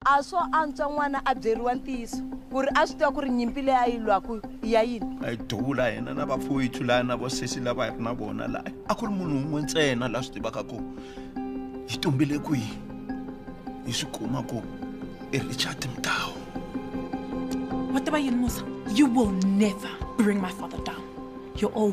A swo antswa n'wana a byeriwa ntiyiso ku ri a swi tiva ku ri nyimpi leyi a yi lwaku i ya yini. A hi duvula hina na vapfowethu laya na vosesi lava hi ri na vona laya, a ku ri munhu un'we ntsena la swi tivaka ku hi tumbile kwihi, hi swi kuma ku i Richard Mtau. Wa tiva yini Musa, you will never bring my father down, you're all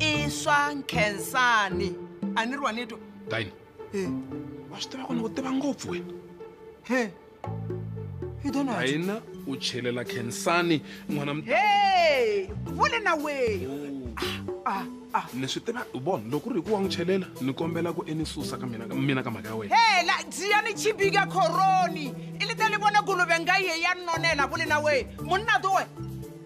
i swa nkhensani a ni ri wa ni twa dine wa swi tiva ku ni ku tiva ngopfu wena he i dona dine u chelela khensani n'wana he vule na weyi ni swi tiva u vona loko ri hi ku wa n'wi chelela ni kombela ku e ni susa ka mina mina ka mhaka ya wena hela dziya ni chibika khoroni i li ta ni vona guluve nga ye ya nonela vule na weyi munna to wena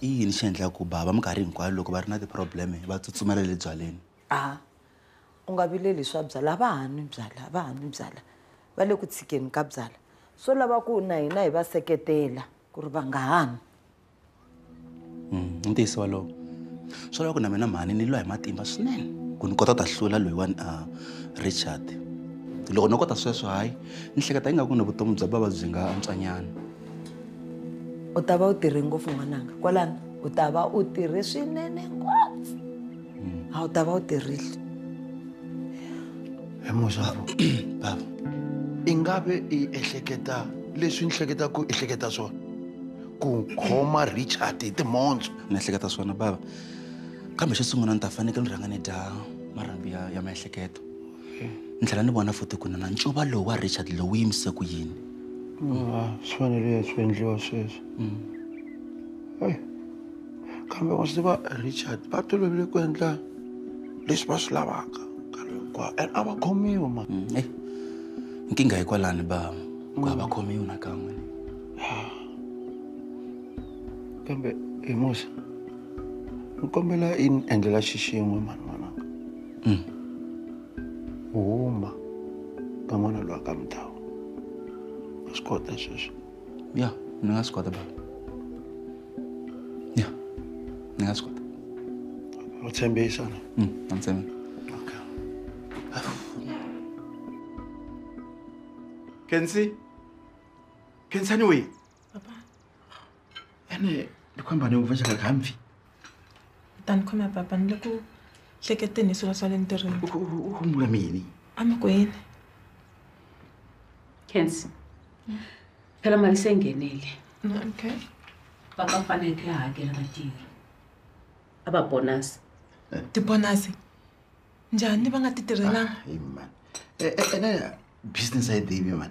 I yini xi endlaka ku bava minkarhi hinkwayo loko va ri na ti-problem va tsutsumela le byaleni a u nga vileli swa byala va ha nwi byala va ha nwi byala va le ku tshikeni ka byala swo lava ku na hina hi va seketela ku ri va nga ha nwi i ntiyiso walowo swo lava ku na mina mhani ni lwa hi matimba swinene ku ni kota ku ta hlula loyiwani a richard loko no kota sweswo hayi ni hleketa ingaku ni vutomi bya bava byi nga antswanyana u ta va u tirhe ngopfu n'wananga kwalano u ta va u tirhe swinene ngopfu a wu ta va u tirhile hi muxavu bava i nga ve i ehleketa leswi ni hleketa ku i hleketa swona ku khoma richard hi timhondzo ni ehleketa swona bava kambe xo sungula ni ta fanekele ni rhanga ni dya marhambi ya ya miehleketo ni tlhela ni vona futi ku nana ncuva lowu wa richard lowu yimise ku yini ah, swi fanele ya swi endliwa sweswo mm. kambe wa swi va richard va tolovile ku endla leswi va swi lavaka nkarhi hinkwawo and a va khomiwi ma mm, eh, nkingha hi kwalani ba ku a va mm. khomiwi nakan'we ah. kambe hi musa ni kombela i ni endlela xixin'we mani mm. u huma ka n'wana lowa ka mudhawu wa swi kota sweswo ya ni nga swi kota baba ya ni nga swi kota u tshembisa na mm, na ni tshembisa Kensi? Kensani wena? Papa. Ene ni khomba ni uvesha ka kamfi. Tani khona papa ni loko hleketeni hi swilo swa le ntirhweni. U khumula mini? Amakwini. Kensi. Phela mali se nghenile. Okay. Papa faneke a hakela vatirhi. A va bonus. Ti bonus. Njhani va nga ti tirhelanga? Hey man. Ene business a yi divi man.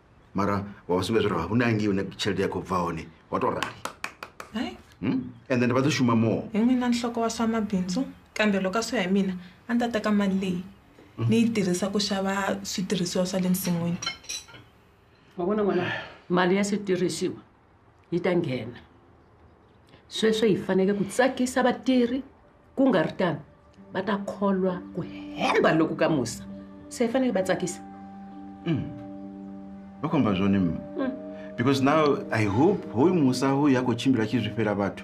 mara wavasumbedza kuti haunangi une chelete yako bva one watorari hayi hmm? and then va to xuma more hi n'wina nhloko wa swa mabindzu kambe loko a swi ya hi mina a ni ta teka mali leyi hmm? ni yi tirhisa ku xava switirhisiwa swa le nsin'wini wa vona n'wana mali ya switirhisiwa yi ta nghena sweswo hi faneke ku tsakisa vatirhi ku nga ri tano va ta kholwa ku hemba loku ka musa se hi faneke va tsakisa mm. va khomba zwone mm. because now i hope hoyu musa hoyu ya khou tshimbila tshi zwi fhela vhathu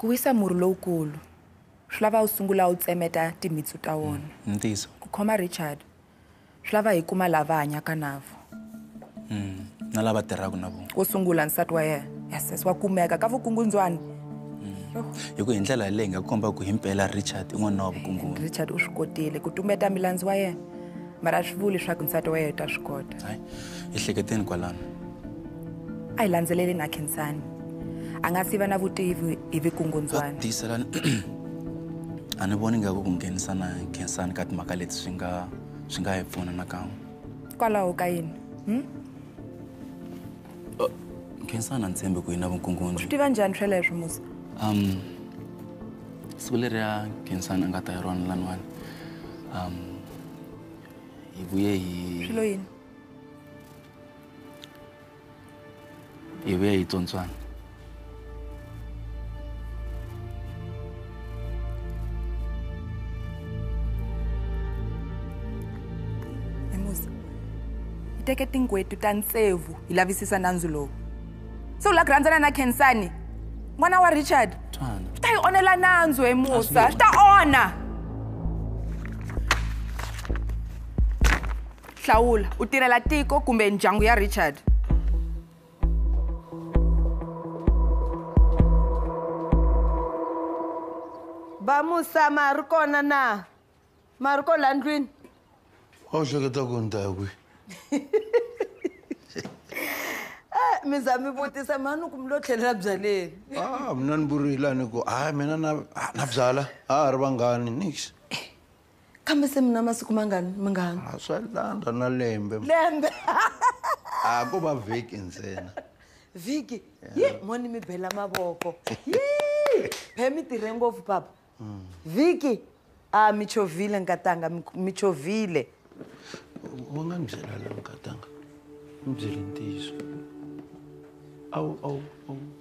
Ku wisa murhi lowukulu swi lava u sungula u tsemeta timitsu ta wona. Mm, ntiso. Ku khoma Richard swi lava hi kuma lava hanyaka navo. Mm, na lava tirhaka na vona. Wo sungula nsati wa yena. Yes, yes, wa kumeka ka vukungundzwani. Mm. Hi ku hi ndlela leyi nga komba ku himpela Richard i n'wana wa vukungundzwani. Richard u swi kotile ku tumeta milandzu wa yena. mara a swi vuli leswaku nsati wa yena u ta swi kota hayi ehleketeni kwalano a hi landzeleleni a khensani a nga siva na vutivi hi vikungundzwana tiyiselani a ni voni ngaku ku nghenisa na khensani ka timhaka leti swi nga swi nga hi pfuna nakan'we kwalaho ka yini hmm? Uh, Nkhinsana Ntshembe ku yina vunkungundzi. Swi tiva njhani sweleswo Musa? Um siku leri ya Nkhinsana a nga ta hi rona laniwani. Um hi vuye hi Swilo yini? hi vuye hi tsontswana. teke tinghwetu ta ntsevu hi lavisisa nandzu lowu se u la ku rhandzana na khensani n'wana wa richard swi ta yi onela nandzu hi musa swi ta onha hlawula u tirhela tiko kumbe ndyangu ya richard va musa ma ri kona na ma ri ko la ndlwini a wu hleketa ku ni ta ya kwihi eh, mi za mi vutisa mhani ku mi lo tlhelela byaleni a ah, mina ni vurile a ni ku hayi mina na na byala a ha ri vanghani nix kambe se mi na masiku mangani mangani a swa landza na lembe lembe a ko va vhiki ntsena vhiki yi moni mi bela mavoko phe mi tirhe ngopfu papa mm. vhiki a mi chovhile nkatanga mi chovhile u nga ni byela la nkatanga ni byele ntiyiso awu awu awu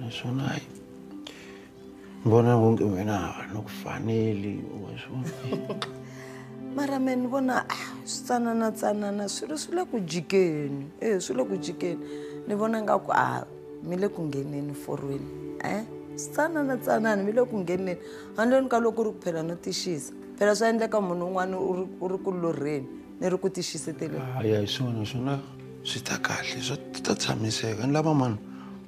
naswona hayi vona vonke wena hava na ku faneli wa swona mara me ni vona ah, swi tsanana tsanana swilo swi le ku jikeni e swi le ku jikeni ni vona nga ku a ah, mi le ku ngheneni forweni um swi tsanana tsanana mi le ku ngheneni handleni ka loko u ri ku phela no tixisa phela swa endleka munhu un'wana u ri ku lorheni ni ri ku ti xiseteleni a ya hi swona swona swi ta kahle swa ta tshamiseka ni lava mani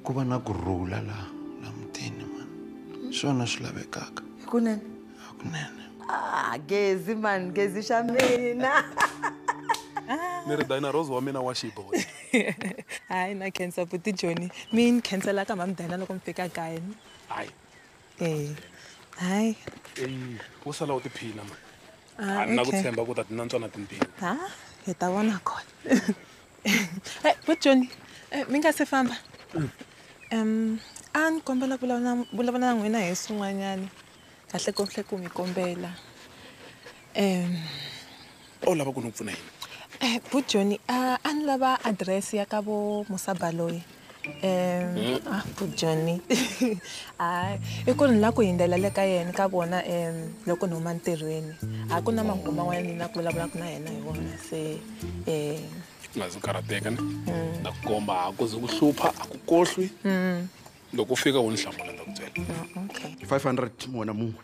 ku va na ku rhula laha la mutini mani swona swi lavekaka hikunene hakunene ah, gezi mani gezi xa mina ni ri dina rose wa mina wa xiboy hayi na cancer buti joni mi ni khansela ka mhamdana loko mi fika kayeni hayi eya hayi eyi wo sala u tiphina ma Ah, a ni na ku okay. tshemba ku ta ti nantswa na timpfini ha hi ta vona kona Eh, vo joni eh, mi nga se famba um a ni kombela ku vulavula na- vulavula na n'wina hi swin'wanyana kahle kohle ku mi kombela um a wu lava ku ni pfuna yini um vu joni a a ni lava adirese ya ka vo musabaloyi um a vu joni hayi i ku ni la ku hindlela le ka yena ka vona um loko ni huma ntirhweni a ku na mahungu man'wana ni na ku vulavulaka na yena hi wona se um u nga zi u karhateka ni na ku komba a ku ze ku hlupha a ku kohlwi loko u fika u ni hlamula ni ta ku byela okay 500 mona mungwe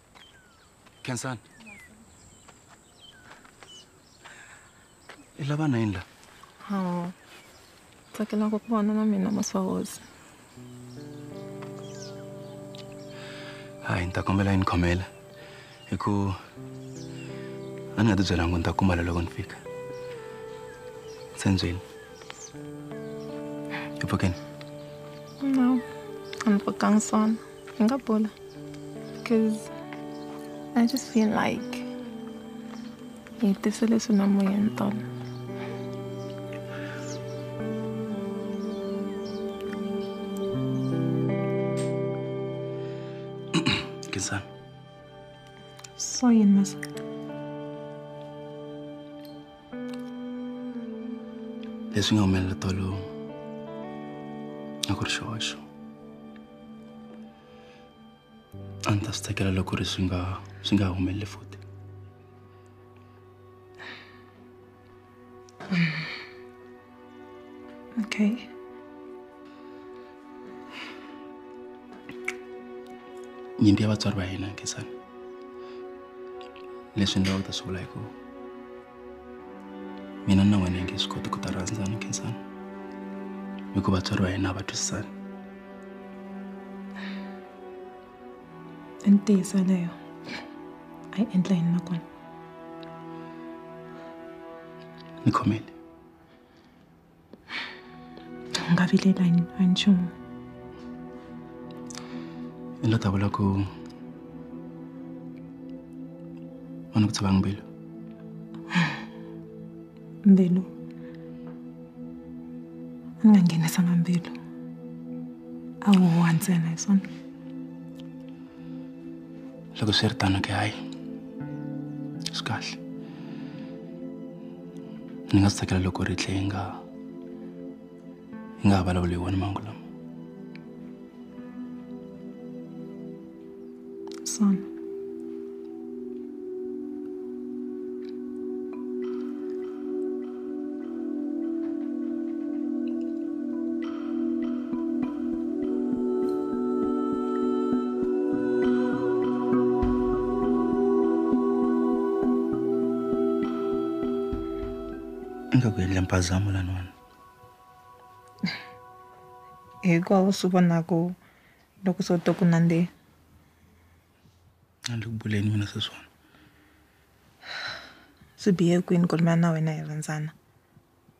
khensani i lava na yini la hawa tsakelaka ku vona na mina masawozi hayi ni ta kombela yi ni khomela hi ku a ni nga ti byelanga ni ta kumala loko ni fika se ndzweni i pfukeni no a ni pfukanga swona Singapore. Because I just feel like this is not my thought. soyunması. Leswi nga humelela tolo a ku ri xihoxo a ni ta swi tsakela loko ri swi nga swi nga humeleli futhi okay nyimpi ya vatswari va hina nkhinsani leswi ni lavaka ku ta swi vula hi ku mina na wena hi nge swi koti ku ta rhandzana khensani hikuva vatswari va hina a va twisisani i ntiyiso leyo a yi endla yini nakona ni khomele u nga vilela hi hi nchumu i lo ta vula ku u ni ku tshova mbilu mbilu u nga nghenisanga mbilu a wu huwa ntsena hi swona loko swi ri tano ke hayi swi kahle ni nga swi tsakela loko ri tlhe yi nga yi nga ha vulavuli hi wona mangu lama son nga ku endla mpazamo lanwana hikwavo swi vonaka loko swo to ku nandzeni andzi ku buleni mina sweswona swi bihe kwini ku ri mina na wena hi rhandzana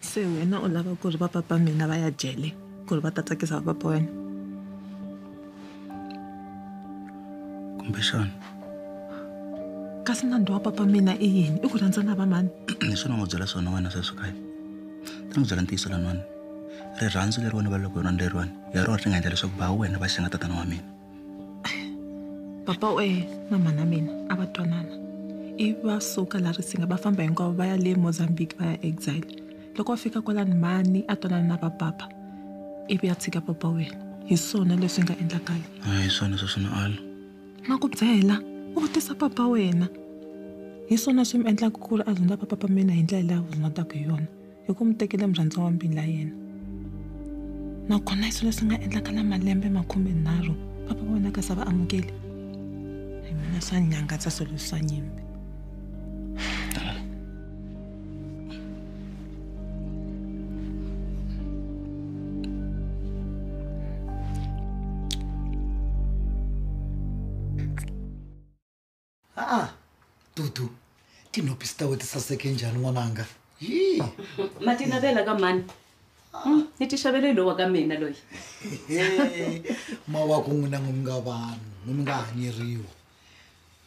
Se wena u lava ku ri va papa mina va ya jele ku ri va ta tsakisa va papa wena kumbexana kasi nandzu wa papa mina i yini i ku rhandza na va mani leswi ni n'wi byela swona wena sweswi kaya ta n'wi byela ntiyiso lan'wana rirhandzu leriwani va loko hi rona leriwani hi rona ri nga endla leswaku ba wena va xinga tatana wa mina papa we na mhana mina a va twanana i va suka la risinga va famba hinkwavo va ya le mozambique va ya exile loko va fika kwalani mhani a twanana na vapapa ivi ya tshika papa wena hi swona leswi nga endlakala hi swona swa swona alo ma ku byela u vutisa papa wena hi swona swi mi endlaka ku ri a zondza papapa mina hi ndlela leyi a zondzaku hi yona hi ku mi tekele murhandziwa wa mbila yena nakona hi swilo leswi nga endlaka na malembe makhumenharhu papa va vonaka sa va amukeli hi mina swa nyangatsa swilo leswi swa nyimbi aa dudu tinhopi sitawe tisaseke njhani n'wananga yi ma ti navela ka mani Hmm, ni ti xavele hi lowa ka mina loyi mawaku n'wina n'wi nga vanhu n'wi mi nga hanyeriwa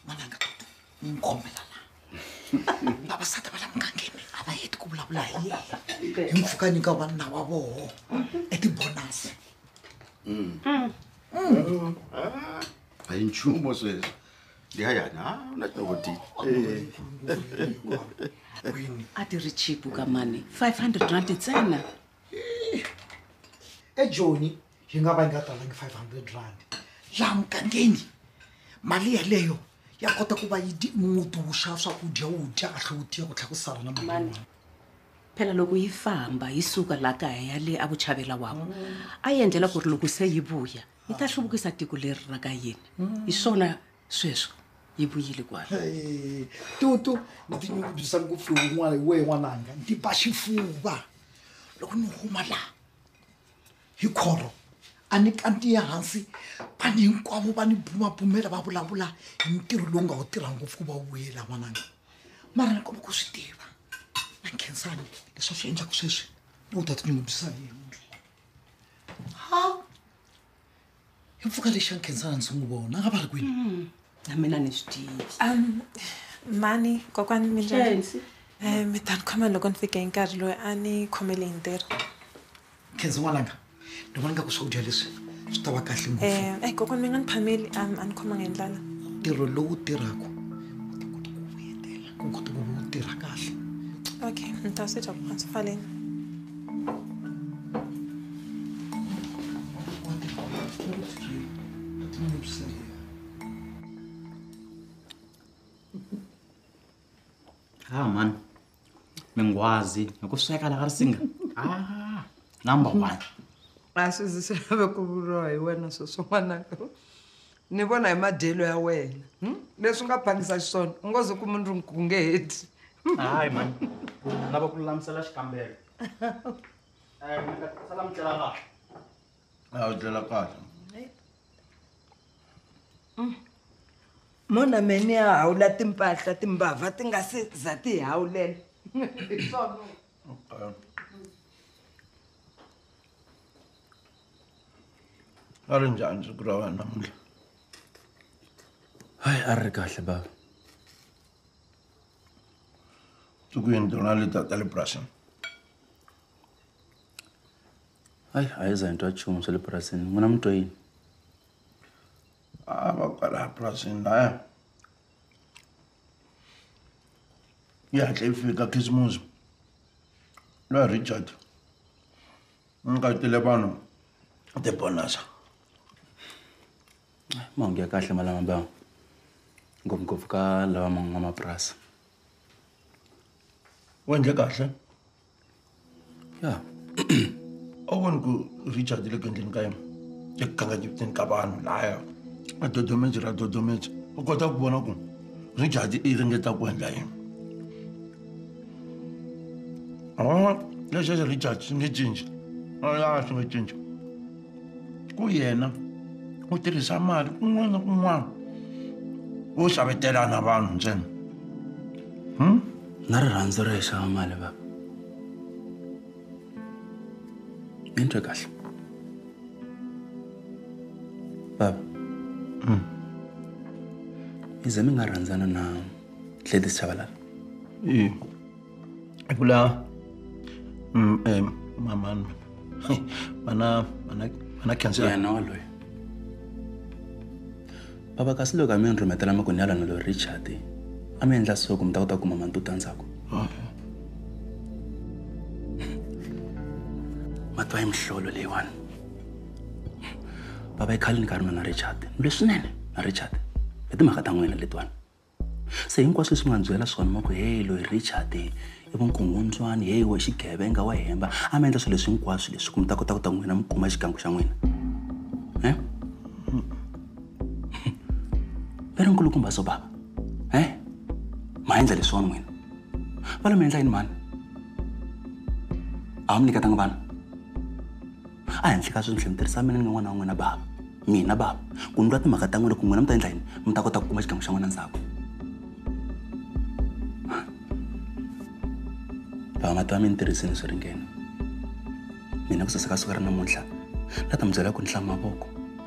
n'wananga dudu n'wi mi khomela la vavasati va la mugangeni a va heti ku vulavula hi yena hi mpfuka nyika vanuna wa voho etibonasi a hi nchumu sweswo ndiyayani ha u na tinovotini a ti ri chipu ka mani 500 rand ntsena ejoni yi nga va yi nga talangi 500 rand laha mugangeni mali yaleyo ya kota ku va yi di- muti wu xava swakudya wu dya a tlhe wu tiya ku tlhela ku sala na mali Mani. yin'wana. phela loko yi famba yi suka laha kaya yale a vuchavela wavo a yi endlela ku ri loko se yi vuya yi ta hluvukisa tiko leri ra ka yini hi swona sweswo yi vuyile kwala tutu ni tinyungubyisa ngopfu hi n'wana hi wehe n'wananga ndzi ba xifuva loko ni huma laha hi khoro a ni kantiye hansi vanhu hinkwavo va ni bumabumela va vulavula hi ntirho lowu nga wu tirha ngopfu ku va wuyela n'wananga mara ni kuma ku swi tiva na khensani leswi a swi endlaka sweswi ni u ta tinyungubyisa yena ha i mpfuka lexi xa nkhendzana ndzi n'wi vona a nga va ri kwini hmm. na mina ni swi tivi um mani kokwani minjani um mi ta ni khoma loko ni fike hi nkarhi loyi a ni khomele hi ntirho nkhendzo n'wananga ni vona nga ku swakudya leswi swi ta va kahle ngopfu um eh, kokwani mi nga ni phameli um a ni khomanga hi ndlala ntirho lowu tirhaka i ku ti ku vuyetela ku kota ku va u tirha kahle okay ni ta swi dya kuhansi faleni ha mani mingwazi hi ku sweka laha ri singa ah, number one a swi zi swi lave ku vuriwa hi wena sweswo n'wanaka Ni vona hi madyelo ya wena hmm? leswi u nga phangisa xiswona u ngo ze ku munhu ri ku nge heti hayi mani lava ku lulamisela xikambelo sala mi tlela kahle a wu tlela kahle hmm. mona meni ya hawula timpahla timbava ti nga se za ti hi hawulela hi swona a ri njhani siku ra wena namuntlha hayi a ri ri kahle bava siku yini tona leta ta le purasini hayi a yi za hi twa nchumu swa le purasini n'wina mi twa yini a ah, va kwala purasini laya yi hatle yi fika khisimusi loyi richard u nyikatile vanhu tibonasa mahungu ya kahle malama ba ngopfungopfu ka lava man'wamapurasi u endle kahle ya a wu voni ku richard le ku endleni ka yena eku kanganyeteni ka vanhu laya a dodomeji ra dodomeji u kota ku vona ku richard i ringeta ku endla yini Oh, leswi leswi Richard swi nge cinci. Oh ya swi nge cinci. Ku yena u tirhisa mali kun'wana na kun'wana wo xavetela na vanhu ntsena. Hmm? Na rirhandzu ri xava mali baba. Ni twe kahle. Baba. Hmm. Ize mi nga rhandzana na Gladys Chabalala. Eh. Kula mm eh mama mana mana mana cancer. Yeah, no loyi. Baba kasi loko a mi ni rhumetela makunyalana loyi Richard a mi endla so ku mi ta kota ku kuma mantuta ndzhaku. Okay. Matwa yi mihlolo leyiwani. Baba i khalini ka ri na Richard. Leswinene na Richard. Hi timhaka ta n'wina letiwani. se hinkwaswo leswi mi nga byela swona ma ku heyi loyi richard i vukungundzwani heyi wa xigevenga wa hemba a mi endla swilo leswi hinkwaswo leswi ku mi ta kota ku ta n'wina mi kuma xigangu xa n'wina e va ri nkulukumba so bava e ma endla leswiwani n'wina va lo mi endla yini mhani a wu mi nyiketanga vana a henhla ka sweswi ni tlhela ni tirhisa mina ni nga n'wana wa n'wina bava mina bava ku ni lwa timhaka ta n'wina ku n'wina mi ta endla yini mi ta kota ku kuma xigangu xa n'wina ndzhaku bava mati va mi ni tirhisini swi ringene mina ku saseka siku ra namuntlha la ta mi byela ku ni hlama mavoko